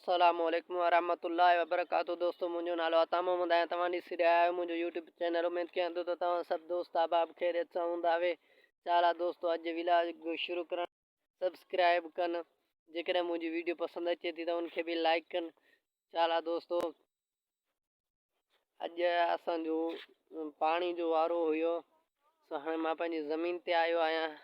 السلام عليڪم ورحمة الله وبرڪاته دوستو منهنجو نالو عطا محمد آهي توهان ڏسي رهيا آهيو منهنجو يوٽيوب چينل اميد ڪيان ٿو ته توهان سڀ دوست احباب خيريت سان هوندا اهي چالا دوستو اڄ جي ولاگ شروع ڪرڻ سبسڪرائب ڪن جيڪڏهن منهنجي ويڊيو پسند اچي ٿي ته ان کي به لائڪ ڪن چالا دوستو اڄ اسان جو پاڻي جو وارو هيو سو هاڻي مان پنهنجي زمين تي آيو آهيان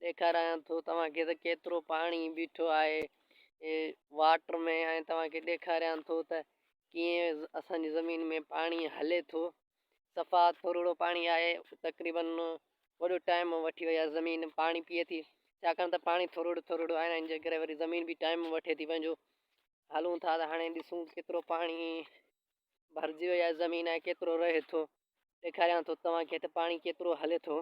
ڏيکارايان ٿو توهان کي ته ڪيترو پاڻي بيٺو آهي واٽر ۾ ۽ توهان کي ڏيکاريان ٿو ته ڪيئن اسان جي زمين ۾ پاڻي هلي ٿو صفا ٿورڙو پاڻي آهي تقريبن وڏو ٽائم وٺي ويا زمين پاڻي پيئي ٿي ڇاڪاڻ ته پاڻي ٿورڙو ٿورڙو آهي ان جي ڪري وري زمين به ٽائم وٺي ٿي پنهنجو هلون ٿا ته هاڻي ڏسون ڪيترو پاڻي ڀرجي ويا زمين ۽ ڪيترو رهي ٿو ڏيکاريان ٿو توهان کي ته پاڻي ڪيترو هلي ٿو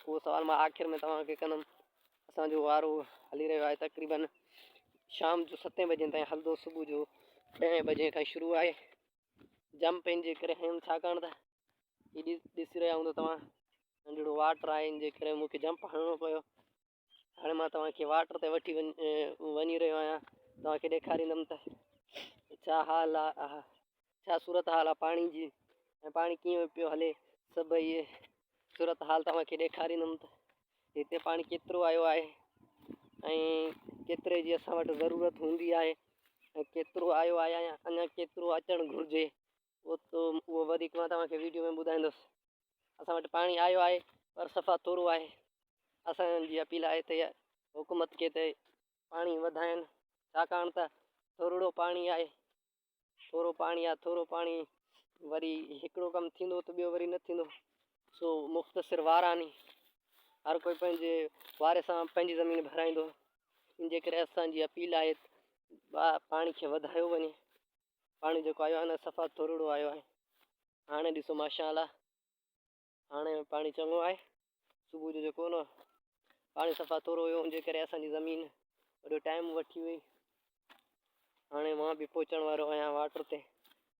اهو سوال مان آخر ۾ توهان کي ڪندم. اسان جو وارو هلي رهيو آهي تقريباً شام جو ستين بجين تائين هلندو صبح جو ڏهين بجين کان شروع آهي جم پين جي ڪري هيم ڇاڪاڻ ته هي ڏسي رهيا هوندو توهان ننڍڙو واٽر آهي ان جي ڪري مون کي جمپ هڻڻو پيو هاڻي مان توهان کي واٽر تي وٺي وڃي رهيو آهيان توهان کي ڏيکاريندم ته ڇا حال آهي ڇا صورت حال آهي پاڻي جي ۽ پاڻي ڪيئن پيو هلي سڀ اهي صورت حال توهان کي ڏيکاريندم ته هتي پاڻي ڪيترو آيو آهي ۽ ڪيتري جي اسان وٽ ضرورت هوندي آهي ۽ ڪيترو آيو آهي اڃا ڪيترو اچڻ گهرجي اهو وڌيڪ مان توهان کي ويڊيو ۾ ٻڌائيندس اسان وٽ پاڻي آيو آهي پر صفا ٿورو آهي اسان جي اپيل آهي ته حڪومت کي ته پاڻي وڌائن ڇاڪاڻ ته ٿورڙو پاڻي آهي ٿورو پاڻي آهي ٿورو پاڻي وري هڪڙو ڪم ٿيندو ته ٻيو وري نه ٿيندو سو مختصر وار آني هر ڪوئي پنهنجي واري سان پنهنجي زمين ڀرائيندو ان جي ڪري اسان جي اپيل آهي پاڻي کي وڌايو وڃي پاڻي جيڪو آيو آهي نه صفا ترڙو آيو آهي هاڻي ڏسو ماشاء الله هاڻي پاڻي چڱو آهي صبح جو جيڪو نه پاڻي صفا ترو هيو ان جي ڪري اسان جي زمين وڏو ٽائم وٺي وئي هاڻي مان به پهچڻ وارو آهيان واٽر تي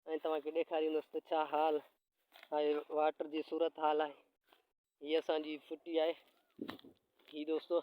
۽ توهان کي ڏيکاريندس ته ڇا حال آهي واٽر جي صورت حال آهي هي اسان جي ڦٽي آهي هي دوستو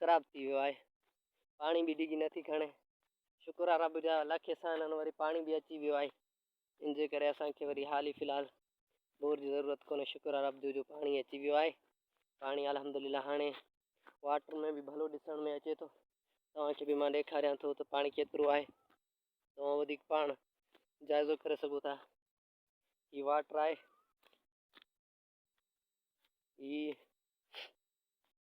خراب ٿي ويو آهي پاڻي به ڊگهي نٿي کڻي شڪر آ رب جا لک احسان آهن وري پاڻي به اچي ويو آهي ان جي ڪري اسان کي وري حال ئي في الحال بور جي ضرورت ڪونهي شڪر آ رب جو جو پاڻي اچي ويو آهي پاڻي الحمدلله هاڻي واٽر ۾ به ڀلو ڏسڻ ۾ اچي ٿو توهان کي به مان ڏيکاريان ٿو ته پاڻي ڪيترو آهي توهان وڌيڪ پاڻ جائزو ڪري سگهو ٿا هي واٽر آهي هي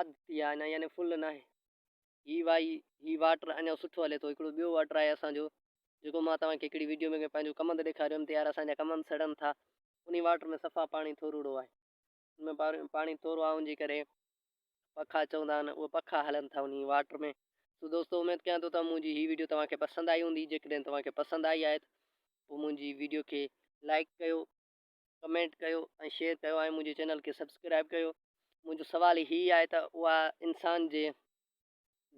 اڌ پي آهي نه يعني فل ناهي هي وائي هي واٽر اڃا سٺو هلي ٿو هڪڙو ٻيو واٽر آهي اسان جو جيڪو مان توهان کي هڪڙي ويڊيو ۾ ڪنهن پنهنجو ڪمند ڏيکاريو هيم ته يار اسان جا ڪمند سڙن ٿا انهي واٽر ۾ صفا پاڻي ٿوروڙو آهي ان ۾ پاڻي ٿورو آهي انجي ڪري پکا چوندا آهن اهي پکا هلن ٿا انهي واٽر ۾ سو دوستو اميد ڪيان ٿو ته منهنجي هي ويڊيو توهان کي پسند آئي هوندي جيڪڏهن توهان کي پسند آئي آهي ته پوء منهنجي ويڊيو کي لائڪ ڪيو ڪمينٽ ڪيو ۽ شيئر ڪيو ۽ منهنجي چينل کي سبسڪرائب ڪيو منهنجو سوال هي آهي ته اها انسان جي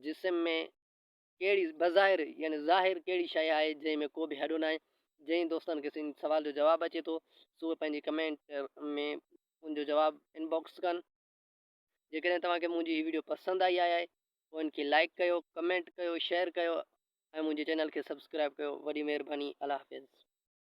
جسم ۾ ڪهڙي بظاهر يعني ظاهر ڪهڙي شيء آهي جنهن ۾ ڪو به هڏو ناهي جنهن دوستن کي سن سوال جو جواب اچي ٿو سو اهي پنهنجي ڪمينٽ ۾ ان جو جواب ان باڪس ڪن جيڪڏهن توهان کي منهنجي هي ويڊيو پسند آئي آهي پوء ان کي لائڪ ڪيو ڪمينٽ ڪيو شيئر ڪيو ۽ منهنجي چينل کي سبسڪرائب ڪيو وڏي مهرباني الله حافظ